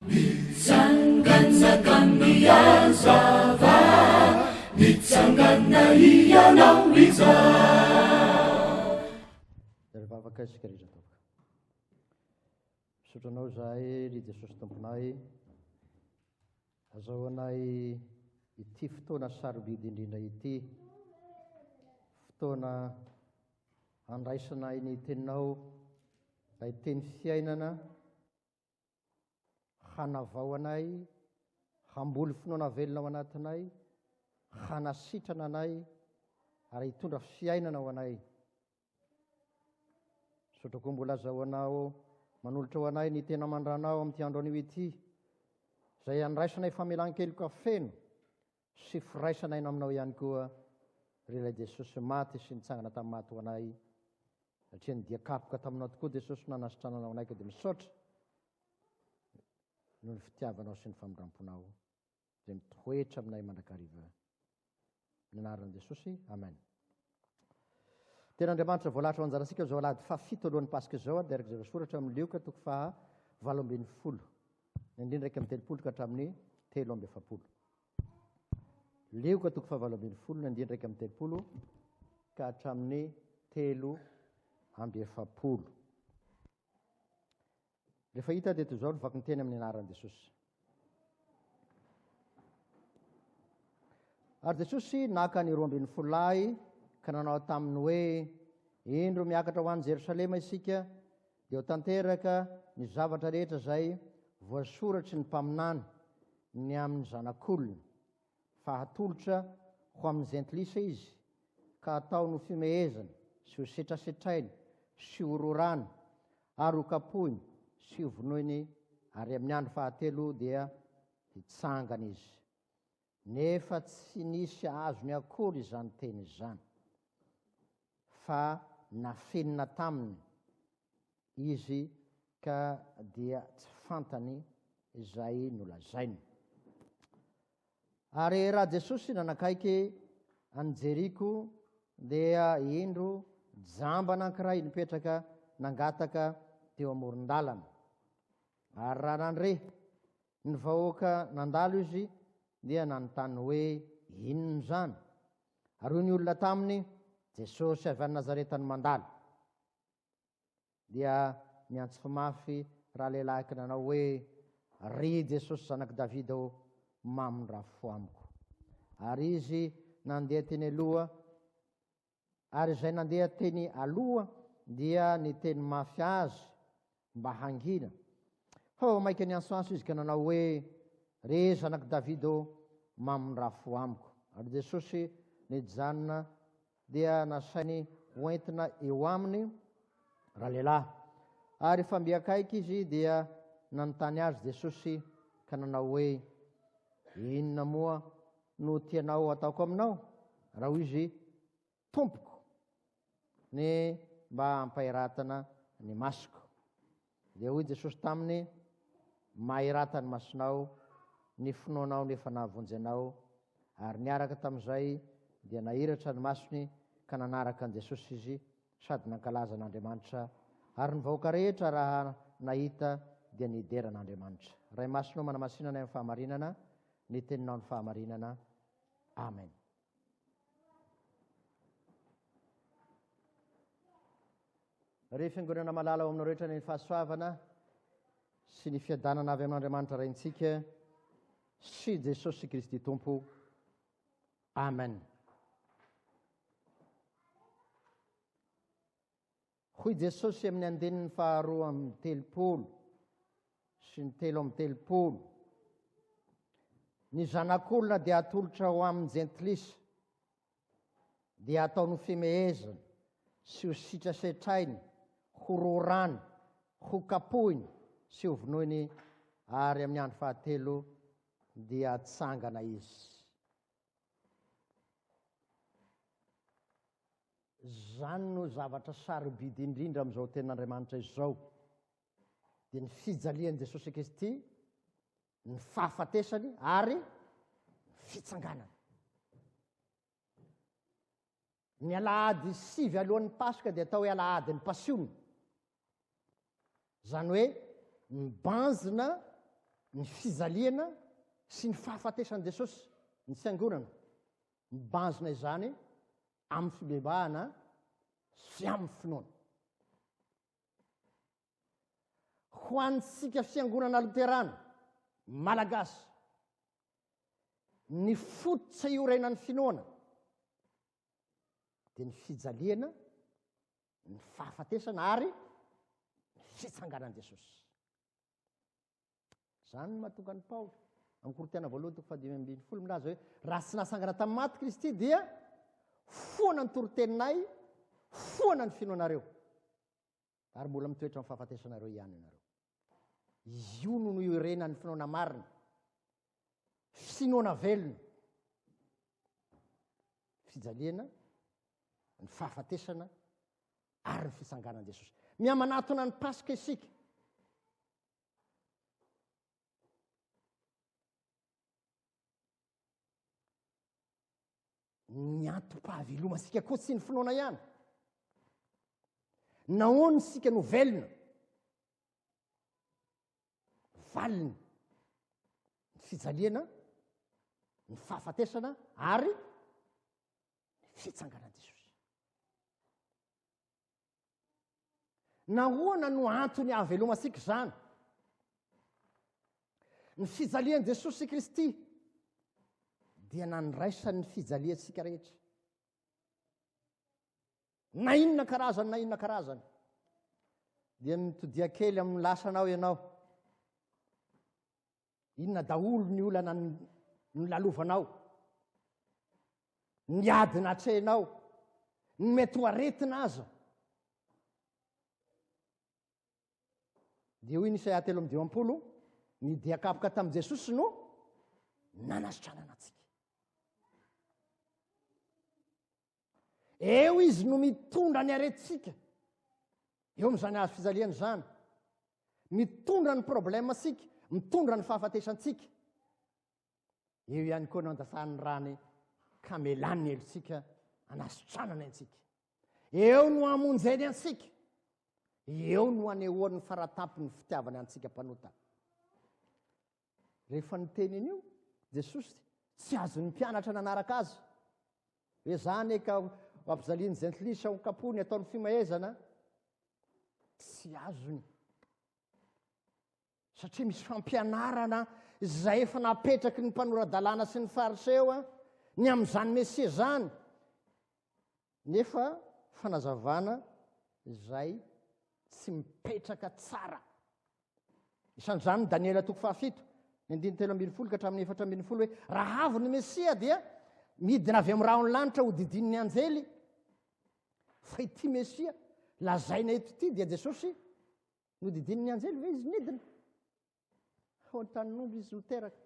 Mitsangana ka mihazava, mitsangana hianao izaho. Ry vavaka isika rehetra atao. Misaotra anao izahay, ry Jesosy Tomponay. Azao anay ity fotoana sarobidy indrindra ity, fotoana handraisanay ny teninao, ilay teny fiainana. hanavao anay, hamboly finoana velona ao anatinay, hanasitrana anay, ary hitondra fiainana ho anay. Misaotra koa mbola azahoanao manolotra ho anay ny tena mandranao amin'ity andro anio ity, izay andraisanay famelan-keloka feno sy firaisana aina aminao ihany koa ry ilay Jesosy maty sy nitsangana tamin'ny maty ho anay satria ny dia kapoka taminao tokoa Jesosy nanasitrananao anay ka dia misaotra noho ny fitiavanao sy ny famindramponao izay mitoetra aminay mandrakariva ny anaran'i Jesosy amen Tena Andriamanitra voalahatra ao anjarantsika amin'izao alahady fahafito alohan'ny Paska izao ary dia araka izay voasoratra amin'ny Lioka toko faha valo ambin'ny folo, ny andininy iraika amby telopolo ka hatramin'ny telo amby efapolo. Lioka toko faha valo ambin'ny folo, ny andininy iraika amby telopolo ka hatramin'ny telo amby efapolo. Rehefa hita dia toy izao ny vakinteny amin'ny anaran'i Jesosy. Ary Jesosy naka ny roa ambin'ny folo lahy ka nanao taminy hoe, Indro miakatra ho any Jerosalema isika, dia ho tanteraka ny zavatra rehetra izay voasoratry ny mpaminany ny amin'ny zanak'olona. fa hatolotra ho amin'ny Jentilisa izy, ka hataony ho fimehezana sy ho setrasetrainy sy ho rorany ary ho kapohiny sy ho vonoiny, ary amin'ny andro fahatelo dia hitsangana izy. Nefa tsy nisy azony akory izany teny izany, fa nafinina taminy Izy ka dia tsy fantany izay nolazainy. Ary raha Jesosy nanakaiky an'i Jeriko dia indro jamba anankiray nipetraka nangataka teo amoron-dalana. Ary raha nandre ny vahoaka nandalo izy dia nanontany hoe inona izany. Ary hoy ny olona taminy, Jesosy avy any Nazareta no mandalo. dia niantso mafy ralehilahiko nanao hoe, Ry Jesosy Zanak'i Davida ô, mamindrafo fo amiko. Ary izy nandeha teny aloha, ary izay nandeha teny aloha dia niteny mafy azy mba hangina. Fa vao mainka niantsoantso izy ka nanao hoe, Ry Zanak'i Davida ô, mamindrafo fo amiko. Ary Jesosy nijanona dia nasainy hoentina eo aminy ralehilahy. Ary efa mby akaiky izy dia nanontany azy Jesosy ka nanao hoe, Inona moa no tianao ataoko aminao? Raha hoy izy, Tompoko, ny mba hampahiratana ny masoko. Dia hoy Jesosy taminy, Mahirata ny masonao, ny finoanao no efa nahavonjy anao. Ary niaraka tamin'izay dia nahiratra ny masony ka nanaraka an'i Jesosy izy sady nankalaza an'Andriamanitra, ary ny vahoaka rehetra raha nahita dia nidera an'Andriamanitra. Ray Masina ô manamasina anay amin'ny fahamarinana, ny teninao no fahamarinana. Amen. Ry Fiangonana malala ao aminao rehetra ny fahasoavana sy ny fiadanana avy amin'Andriamanitra Raintsika sy Jesosy Kristy Tompo. Amen. Hoy Jesosy amin'ny andininy faharoa amin'ny telopolo sy ny telo amin'ny telopolo. Ny zanak'olona dia atolotra ho amin'ny jentilisa dia ataony ho fimehezana sy ho sitrasetrainy, ho rorany, ho kapohiny sy ho vonoiny, ary amin'ny andro fahatelo dia tsangana izy. Izany no zavatra sarobidy indrindra amin'izao tenin'Andriamanitra izao, dia ny fijalian'i Jesosy Kristy ny fahafatesany ary fitsanganany ny alahady sivy alohan'ny paska dia atao hoe alahady ny pasiona zany hoe mibanjina ny fijaliana sy ny fahafatesan'i jesosy ny tsangonana mibanjina izany amin'ny fibebahana sy amin'ny finoana Ho antsika Fiangonana Loterana Malagasy, ny fototra iorenan'ny finoana dia ny fijaliana, ny fahafatesana ary ny fitsanganan'i Jesosy. Izany no mahatonga an'i Paoly amin'ny Korintiana voalohany toko fahadimy ambin'ny folo milaza hoe raha tsy nasangana tamin'ny maty Kristy dia foana ny toroteninay, foana ny finoanareo. ary mbola mitoetra amin'ny fahafatesanareo ihany ianareo. Izy io no noiorenan'ny finoana marina, finoana velona, fijaliana, ny fahafatesana ary ny fitsanganan'i Jesosy. Mihamanatona ny Paska isika. ny antom-pahavelomantsika koa tsy ny finoana ihany nahoany isika no velona valiny ny fijaliana ny fahafatesana ary ny fitsanganan'i jesosy Nahoana no antony hahavelomantsika izany? Ny fijalian'i Jesosy Kristy dia nandraisany ny fijaliantsika rehetra. Na inona karazany, na inona karazany. Dia mitodia kely amin'ny lasanao ianao. Inona daholo ny olana nolalovanao, ny ady natrehinao, ny mety ho aretina aza. Dia hoy ny Isaia telo amin'ny dimampolo, ny dia kapoka tamin'i Jesosy no nanasitranana antsika. Eo izy no mitondra ny aretintsika. Eo amin'izany hazo fijaliana izany. Mitondra ny problème sika, mitondra ny fahafatesantsika. Eo ihany koa no andasan'ny rany ka melan'ny helotsika anasitranana antsika. Eo no amonjeny antsika. Eo no anehoan'ny faratampony fitiavana antsika mpanota. Rehefa niteny an'io Jesosy, tsy azon'ny mpianatra nanaraka azy. Hoe zany e ka ampijalian'ny jentilisa ho kapony ataon'ny fimahezana, tsy azony. Satria misy fampianarana izay efa napetraky ny mpanora-dalàna sy ny fariseo ny amin'izany Mesia izany. Nefa fanazavana izay tsy mipetraka tsara. Isan'izany Daniela toko fahafito, ny andininy telo ambin'ny folo ka hatramin'ny efatra ambin'ny folo hoe raha avy ny Mesia dia midina avy amin'ny rahon'ny lanitra ho didinin'ny anjely fa ity Mesia lazaina eto ity dia Jesosy no didinin'ny anjely ve izy midina? Tao an-tanin'omby izy no teraka.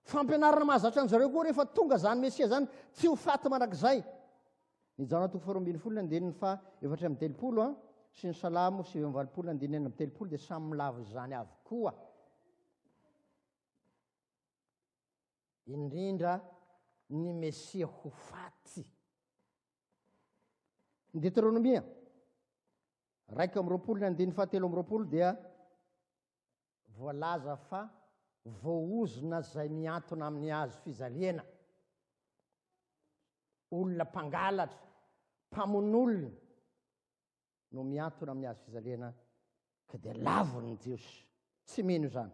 Fampianarana mahazatra an'izareo koa rehefa tonga izany Mesia izany, tsy ho faty mandrakizay. Ny Jaona toko faharoa ambin'ny folo ny andininy fa efatra amin'ny telopolo a, sy ny Salamo sivy amin'ny valopolo ny andininy enina amin'ny telopolo dia samy milavo izany avokoa. Indrindra ny Mesia ho faty. Ny Deteronomia Iraika amby roapolo ny andininy fahatelo amby roapolo dia voalaza fa voaozona izay miantona amin'ny hazo fijaliana, olona mpangalatra, mpamonolona no miantona amin'ny hazo fijaliana ka dia lavon'ny Jiosy, tsy mino izany.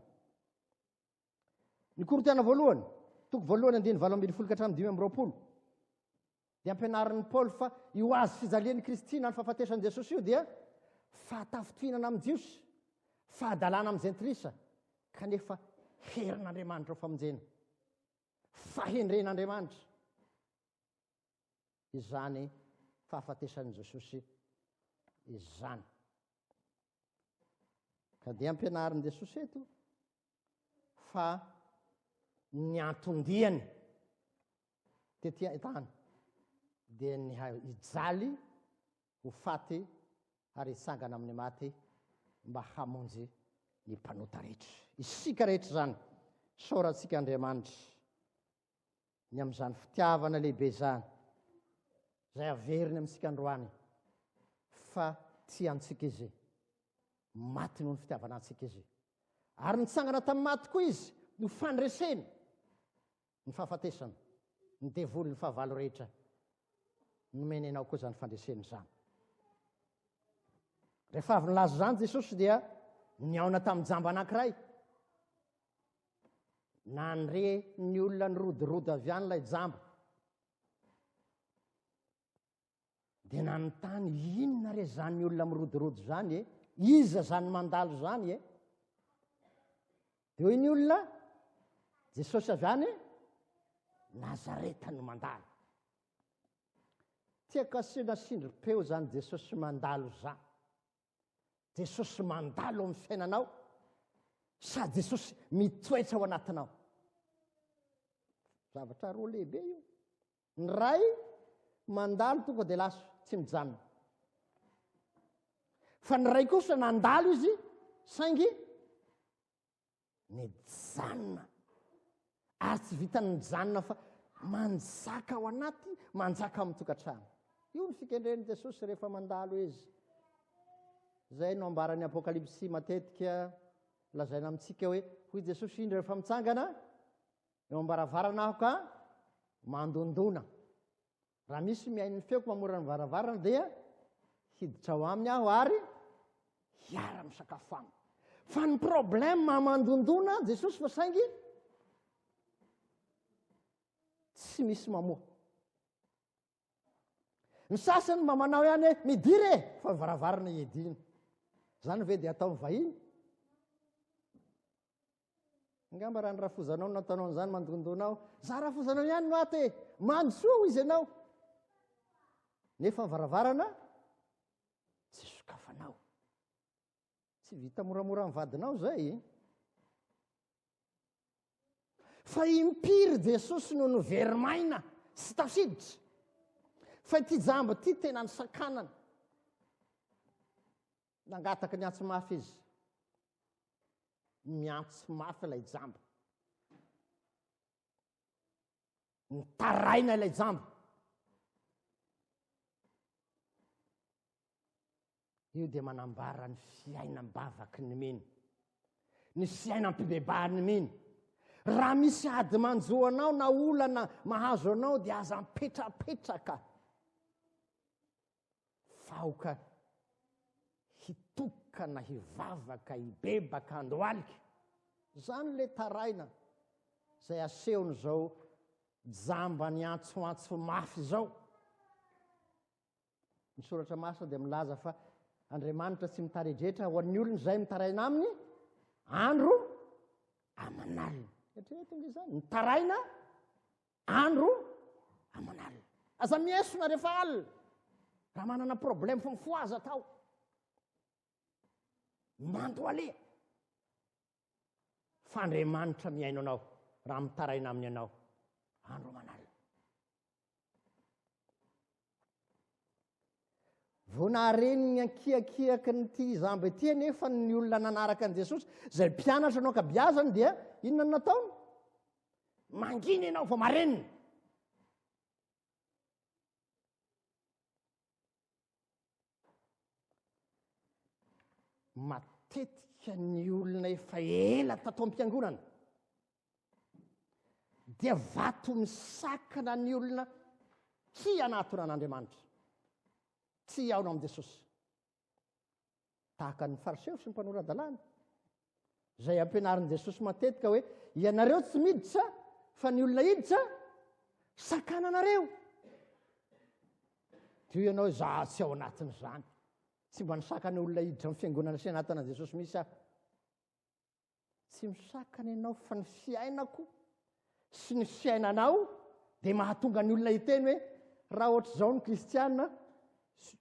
Ny Korintiana voalohany, toko voalohany andiny valo ambin'ny folo ka hatramin'ny dimy amby roapolo, dia ampianarin'i Paoly fa io azy fijalian'i Kristy na ny fahafatesan'i Jesosy io dia fahatafintohinana amin'ny Jiosy, fahadalana amin'ny Jentilisa, kanefa herin'Andriamanitra ho famonjena, fahendren'Andriamanitra, izany fahafatesan'i Jesosy izany. Ka dia ampianarin'i Jesosy eto fa ny anton-diany tety an-tany dia ny hijaly ho faty ary hitsangana amin'ny maty mba hamonjy ny mpanota rehetra. Isika rehetra izany, saorantsika Andriamanitra ny amin'izany fitiavana lehibe izany izay averiny amintsika androany fa tsy antsika izy maty noho ny fitiavana antsika izy ary nitsangana tamin'ny maty koa izy no fandreseny ny fahafatesana ny devoly ny fahavalo rehetra nomeny anao koa zany fandreseny izany rehefa avy nylaza izany jesosy dia ny aona tamin'ny jamba anankiray Nandre ny olona nirodorodo avy any ilay jamba. Dia nanontany, inona re izany olona mirodorodo izany e? Iza izany mandalo izany e? Dia hoy ny olona, Jesosy avy any Nazareta no mandalo. Tiako asiana sindrim-peo izany Jesosy mandalo izany. Jesosy mandalo amin'ny fiainanao sa Jesosy mitoetra ao anatinao? Zavatra roa lehibe io. Ny ray mandalo tonga dia lasa tsy mijanona. Fa ny ray kosa nandalo izy saingy Mijanona. Ary tsy vitan'ny mijanona fa manjaka ao anaty, manjaka amin'ny tokantrano. Io ny fikendren'i Jesosy rehefa mandalo izy. Izay no ambaran'ny apokalypsy matetika lazaina amintsika hoe hoy Jesosy indra rehefa mitsangana eo ambaravarana aho ka mandondona. Raha misy mihaino ny feoko mamorona ny varavarana dia hiditra ao aminy aho ary hiara misakafo aminy. Fa ny problème amandondona an Jesosy fa saingy tsy misy mamoa. Ny sasany mba manao ihany hoe midira e fa ny varavarana iedina. Zany ve dia ataon'ny vahiny? Angamba raha ny rafozanao no nataonao an'izany mandondona aho, za rafozanao ihany no ato e, mandrosoa ho izy ianao. Nefa ny varavarana tsy sokafanao. Tsy vita moramora amin'ny vadinao izay. E. Fa impiry Jesosy no noverimaina sy tafiditra. Fa ity jamba ity tena ny sakanana. Nangataka ny antsy mafy izy. Miantsy mafy ilay jamba. Nitaraina ilay jamba. Io dia manambara ny fiainam-bavaky ny mino. Ny fiainam-pibebahan'ny mino. Raha misy ady manjo anao na olana mahazo anao dia aza mipetrapetraka. Fa aoka hitokana hivavaka hibebaka andro alika. Zany le taraina zay asehony zao jamba niantsoantso mafy zao. Ny soratra masina dia milaza fa Andriamanitra tsy mitaredretra ho an'ny olony zay mitaraina aminy andro aman'alina. Eritrereto nge zany, mitaraina Andro aman'alina. Aza miesona rehefa alina. Raha manana problème fo fo aza atao. Manto aleha. Fa Andriamanitra mihaino anao raha mitaraina aminy ianao andro aman'alina. Vao nahare ny ankiakiaky ny ity izamba ity anefa ny olona nanaraka an'i Jesosy, izay mpianatra no ankabiazany dia inona no nataony? Mangina ianao vao marenina. matetika ny olona efa ela tato am-piangonana dia vato misakana ny olona tsy hanatona an'andriamanitra tsy hihaona amin'i jesosy tahaka ny fariseo sy ny mpanora-dalàna Izay ampianarin'i Jesosy matetika hoe ianareo tsy miditra fa ny olona hiditra sakana anareo. Teo ianao za tsy ao anatin'izany. Tsy mba nisakana olona hiditra amin'ny fiangonana sy anatina Jesosy misy aho. Tsy misakana ianao fa ny fiainako sy ny fiainanao dia mahatonga ny olona hiteny hoe raha ohatr'izao ny kristiana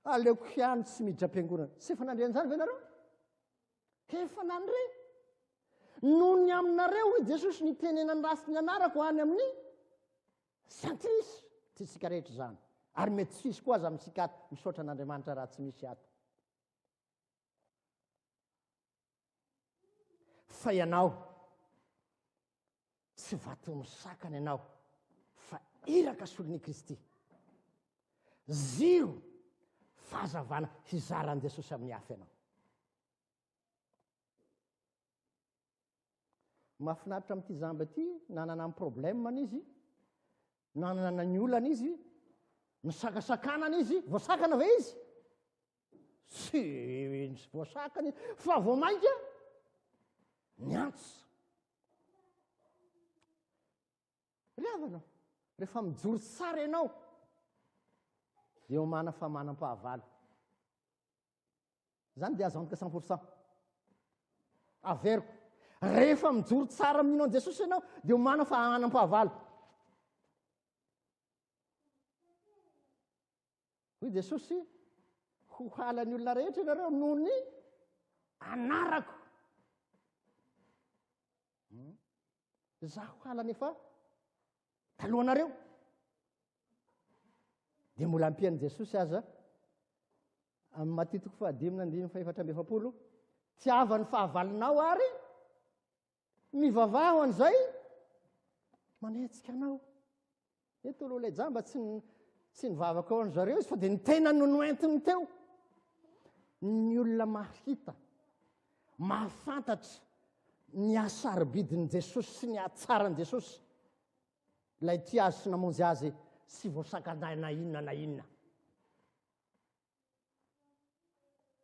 aleoko ihany tsy miditra am-piangonana. Tsy efa nandre an'izany ve nareo? Hefana ny re. Noho ny aminareo, hoy Jesosy, ny tenenany ratsy ny anarako any amin'ny santrisy. Tsy isika rehetra izany. Ary mety tsy hisy koa aza amintsika ato. Misaotra an'Andriamanitra raha tsy misy ato. Fa ianao, Tsy vaton'ny sakana ianao fa iraka solon' i Kristy. Ziro fahazavana hizaran'i Jesosy amin'ny hafa ianao. Mahafinaritra amin'ity jamba ity, nanana ny problème-ny izy, nanana ny olana izy nisakasakanana izy voasakana ve izy sy nisy voasakana izy fa vao mainka ny antsa ry avanao rehefa mijory tsara ianao eo mana fa manam-pahavalo Izany dia azo antoka cent pour cent. Averiko. Rehefa mijoro tsara mino an'i Jesosy ianao, dia omana fa hanam-pahavalo. Hoy Jesosy, ho halan'ny olona rehetra ianareo noho ny anarako. Hmm? Zaho halany efa talohanareo. Dia mbola ampian'i Jesosy aza amin'ny matitoko fahadimina andininy fahefatra amby efapolo. Tiava ny fahavalonao ary mivavaho an'izay manetsika anao. Eto aloha ilay jamba tsy tsy nivavaka ao an'zareo izy fa dia ny tenany no noentiny teo ny olona mahita mahafantatra ny hasarobidin'i jesosy sy ny hatsaran'i jesosy ilay ti azy sy namonjy azy sy voasakandaina inona na inona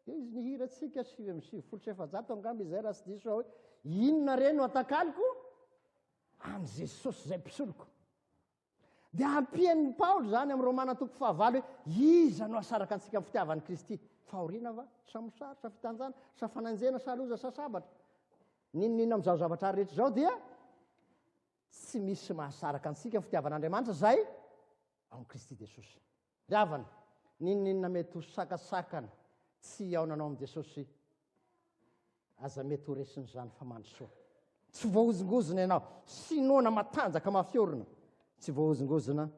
dia izy ny hirantsika sivy amin'ny sivifolo sy efajato angamba izay raha tsy diso aho hoe inona re no atakaloko an'i jesosy izay mpisoloko dia ampian'ny paoly izany amin'ny romana toko fahavalo hoe iza no asaraka antsika amin'ny fitiavan'i kristy fahoriana va sa mosary sa fitanjana sa fananjena sa loza sa sabatra ninonina amin'izao zavatra ary rehetra izao dia tsy misy mahasaraka antsika ny fitiavan'andriamanitra izay amin'i kristy jesosy Havana, N'inon'inona mety ho sakasakana tsy hihaonanao amin'i Jesosy, aza mety ho resin'izany fa mandrosoa. Tsy voahozongozona ianao. Sinoana matanjaka mafy orina. Tsy voahozongozona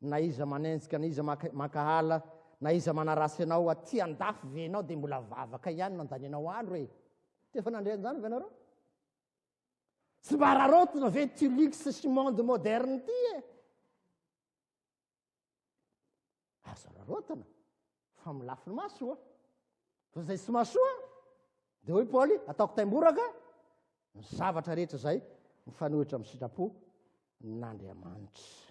na iza manenjika, na iza mankahala, na iza manarasy anao. Aty andafy ve ianao dia mbola vavaka ihany no andanianao alo e? Tsy efa nandre an'izany ve ianareo? Tsy mba araraotina ve ity luxe sy monde moderne ity e? Azo rarotana fa amin'ny lafiny masoa fa zay tsy masoa de hoy paoly ataoko taimboraka ny zavatra rehetra zay mifanohitra amin'ny sitrapo n'andriamanitra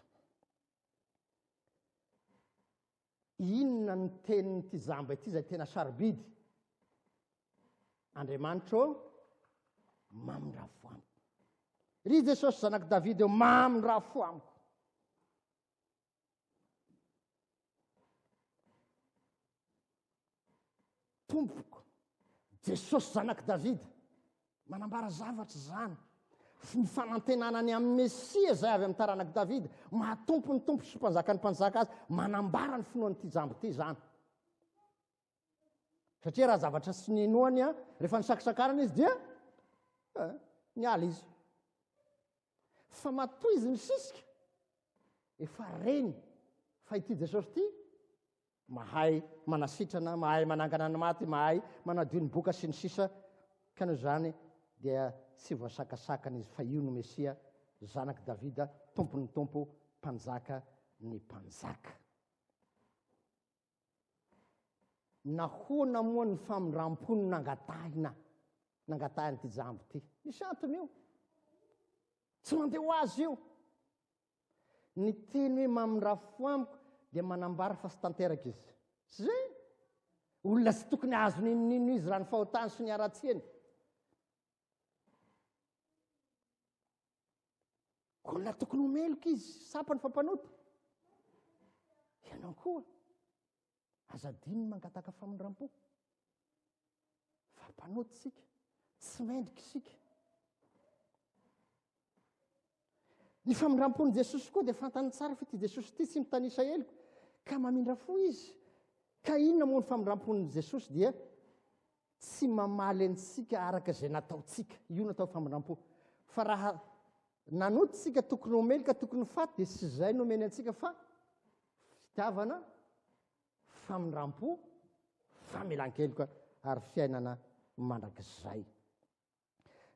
inona ny tenin'ity jamba ity zay tena sarobidy andriamanitra o mamindravamiko ry jesosy zanak'i davida eo mamindravfo amiko tompoko jesosy zanak'i davida manambara zavatra izany f ny fanantenana ny amin'ny mesia izay avy amin'ny taranak'i davida mahatompo ny tompo sy mpanjaka ny mpanjaka azy manambara ny finoan'ity jambo ity izany satria raha zavatra sy ny inoany a rehefa ny sakisakarana izy dia eh, ny ala izy fa matoa izy ny sisika efa reny fa ity jesosy ity mahay manasitrana mahay manangana ny maty mahay manadio ny boka sy ny sisa ka no zany dia tsy voasakasakana izy fa io no mesia zanak'i davida tompon'ny tompo mpanjaka ny mpanjaka Nahoana moa ny famindram-po no nangatahina, nangatahin'ity jamba ity? Misy antony io. Tsy mandeha ho azy io. Ny teny hoe mamindra fo amiko dia manambara fa tsy tanteraka izy. Tsy izay? Olona tsy tokony azo ninonino izy raha ny fahotany sy ny haratsiany. Olona tokony ho meloka izy, sampany fa mpanota. Ianao koa, aza adino ny mangataka famindram-po. Fa mpanota isika, tsy mendrika isika. Ny famindram-pon'i Jesosy koa dia fantany tsara fa ity Jesosy ity tsy mitanisa heloka, ka mamindra fo izy. Ka inona moa ny famindram-pon'i Jesosy dia tsy mamaly antsika araka izay nataontsika, io no atao famindram-po. Fa raha nanota isika tokony homely ka tokony ho faty, dia tsy izay no omeny antsika fa fitiavana, famindram-po, famelan-keloka ary fiainana mandrakizay.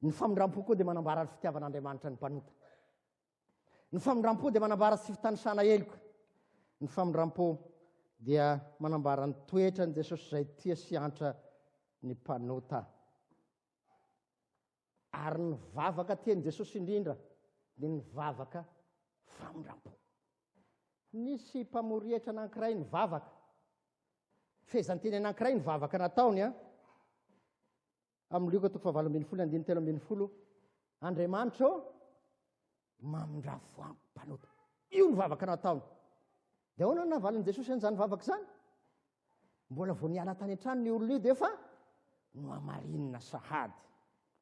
Ny famindram-po koa dia manambara ny fitiavan'Andriamanitra ny mpanota. Ny famindram-po dia manambara tsy fitanisana heloka. Ny famindram-po dia manambara ny toetra ny Jesosy izay tia sy antra ny mpanota. Ary ny vavaka tian'i Jesosy indrindra dia ny vavaka famindram-po. Nisy mpamorietra anankiray ny vavaka. Fehezanteny anankiray ny vavaka nataony an. Amin'ny Lioka toko fahavalo ambin'ny folo andininy telo ambin'ny folo, Andriamanitra ô, mamindra voango mpanota. Io ny vavaka nataony. Dia ahoana no navalin'i Jesosy an'izany vavaka izany? Mbola vao niala tany an-trano ny olona io dia efa nohamarinina sahady.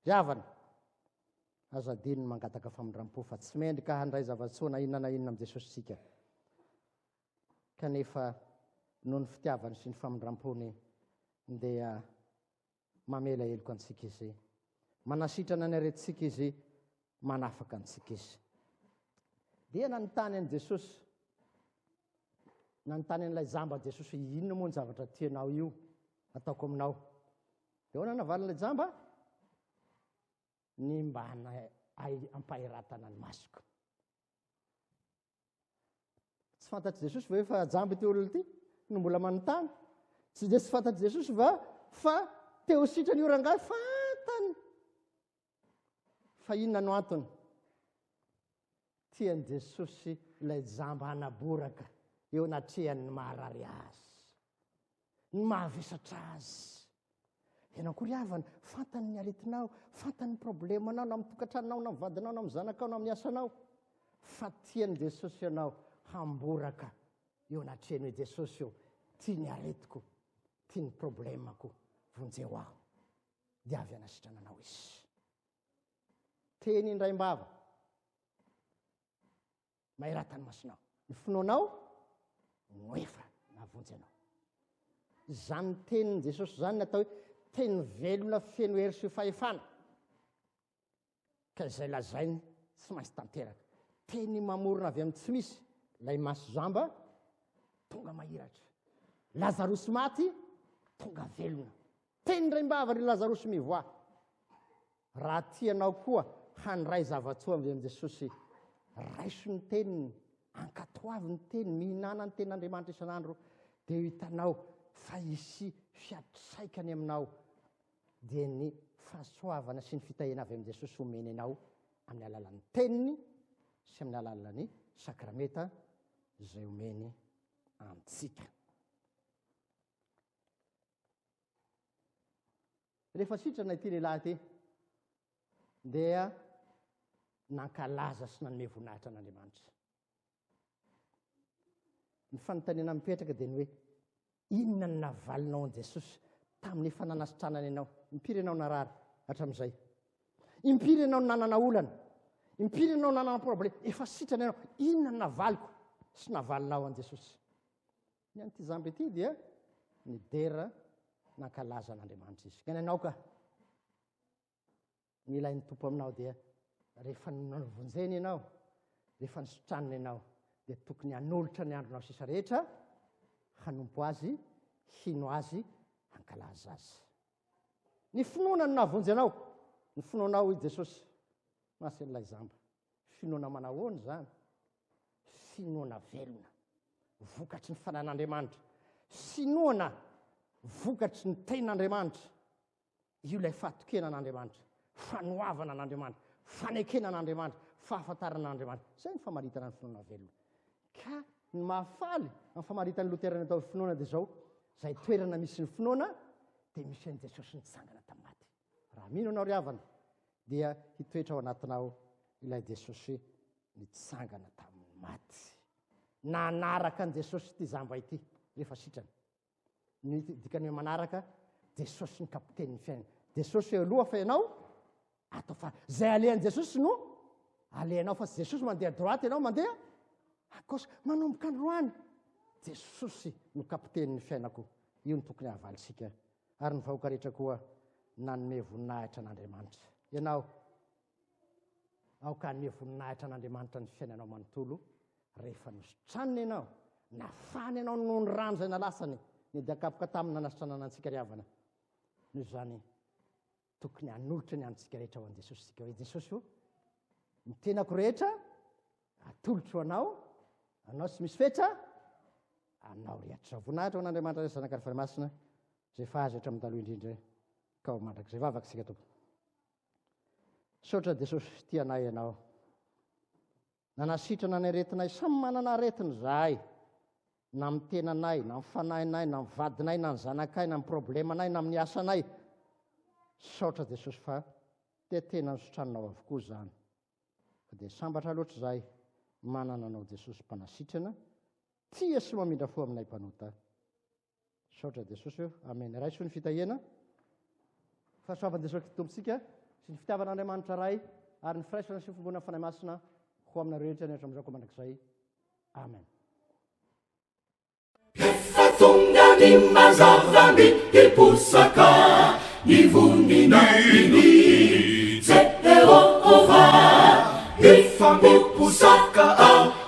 Ry havana, aza adino ny mangataka famindram-po fa tsy mendrika handray zava-tsoa na inona na inona amin'i Jesosy isika. Kanefa noho ny fitiavany sy ny famindram-pony dia mamela heloka antsika izy, manasitrana ny aretintsika izy, manafaka antsika izy. Dia nanontany an'i Jesosy, nanontany an'ilay jamba Jesosy hoe inona moa ny zavatra tianao io ataoko aminao. Dia ahoana navalin'ilay jamba? Ny mba ampahiratana ny masoko. Tsy fantatr'i Jesosy ve fa jambo ity olona ity no mbola manontany? Tsy dia tsy fantatr'i Jesosy va fa teo sitrany io rangahy fantany fa inona no antony? Tian'i Jesosy ilay jamba anaboraka eo anatrehan'ny maharary azy. ny mahavesatra azy. Ianao koa ry havana, fantany ny aretinao, fantany ny problemanao na amin'ny tokantranonao na amin'ny vadinao na amin'ny zanakao na amin'ny asanao. Fa tian'i Jesosy ianao hamboraka eo anatrehany hoe Jesosy eo, tia ny aretiko, tia ny problemako, vonjeo aho. Dia avy hanasitrana anao izy. Teny indraimbava. maheratany masinao ny finoanao no efa navonjy anao izany teniny jesosy zany natao hoe teny velona feno hery sy fahefana ka izay lazainy tsy maintsy tanteraka teny mamorona avy amin'ny tsy misy lay maso zamba tonga mahiratra lazarosy maty tonga velona Teny indray mba havan'i Lazarosy mivoaha. Raha tianao koa handray zava-tsoa avy amin'i Jesosy, raiso ny teniny, ankatoavy ny teniny, mihinana ny tenin'Andriamanitra isan'andro, dia ho hitanao fa hisy fiantraikany aminao, dia ny fahasoavana sy ny fitahiana avy amin'i Jesosy homeny anao amin'ny alalan'ny teniny sy amin'ny alalan'ny sakramenta izay omeny antsika. Rehefa sitrana ity lehilahy ity, dia nankalaza sy nanome voninahitra an'Andriamanitra. Ny fanontaniana mipetraka dia ny hoe inona ny navalinao an'i Jesosy tamin'ny efa nanasitranany ianao? Impiry ianao narary hatramin'izay? Impiry ianao nanana olana? Impiry ianao nanana problema? Efa sitrana ianao, inona ny navaliko sy navalinao an'i Jesosy? Ny an'ity jamba ity dia nidera nankalaza an'Andriamanitra izy. Ka ny anao ka, ny ilain'ny tompo aminao dia rehefa navonjeny ianao, rehefa nisotranina ianao, dia tokony hanolotra ny andronao sisa rehetra hanompo azy, hino azy, hankalaza azy. Ny finoana no navonjy anao, ny finoanao i Jesosy, masin'ilay zamba. Finoana manahoana izany? Finoana velona, vokatry ny Fanahin'Andriamanitra. Finoana vokatry ny Tenin'Andriamanitra. Io ilay fahatokena an'Andriamanitra, fanoavana an'Andriamanitra, fanekena an'Andriamanitra, fahafantarana an'Andriamanitra. Izay ny famaritana ny finoana velona. Ka ny mahafaly amin'ny famaritan'ny Loterana tao finoana dia izao, izay toerana misy ny finoana dia misy an'i Jesosy nitsangana tamin'ny maty. Raha mino anao ry havana, dia hitoetra ao anatinao ilay Jesosy nitsangana tamin'ny maty. Nanaraka an'i Jesosy ity zamba ity rehefa sitrany. Ny dikany hoe manaraka Jesosy ny kapitenin'ny fiainana. Jesosy eo aloha fa ianao atao fa zay alehan'i Jesosy no alehanao fa Jesosy mandeha droite ianao mandeha akosy manomboka androany. Jesosy no kapitenin'ny fiainako. Io ny tokony havalintsika ary ny vahoaka rehetra koa nanome voninahitra an'Andriamanitra. Ianao, aoka hanome voninahitra an'Andriamanitra ny fiainanao manontolo rehefa nositraniny ianao, nafany ianao noho ny rano izay nalasany, ny dian-kapoka taminy nanasitranana antsika ry havana. Noho izany, tokony hanolotra ny antsika rehetra ho an'i Jesosy isika hoe Jesosy o ny tenako rehetra atolotro anao anao sy misy fetra anao rehetra voninahitra ho an'Andriamanitra rehetra zanaka rehetra masina izay fahazo rehetra amin'ny taloha indrindra ka ho mandrakizay vavaka isika tompo saotra Jesosy tianay ianao Nanasitrana ny aretinay samy manana aretiny zahay na amin'ny tenanay na amin'ny fanahinay na amin'ny vadinay na ny zanakay na ny problemanay na amin'ny asanay saotra jesosy fa te tena nositraninao avokoa izany fa dia sambatra loatra izahay manana anao jesosy mpanasitrana tia sy mamindra fo aminay mpanota Misaotra Jesosy o. Amen. Raiso ny fitahiana. Fahasoavan'i Jesosy Kristy Tompontsika sy ny fitiavan'Andriamanitra Ray ary ny firaisana sy ny fiombonan'ny Fanahy Masina ho aminareo rehetra ny hatramin'izao ka mandrakizay. Amen. Efa tonga ny mazava ny hiposaka ny voninahiny Jehovah, hifampiposaka ao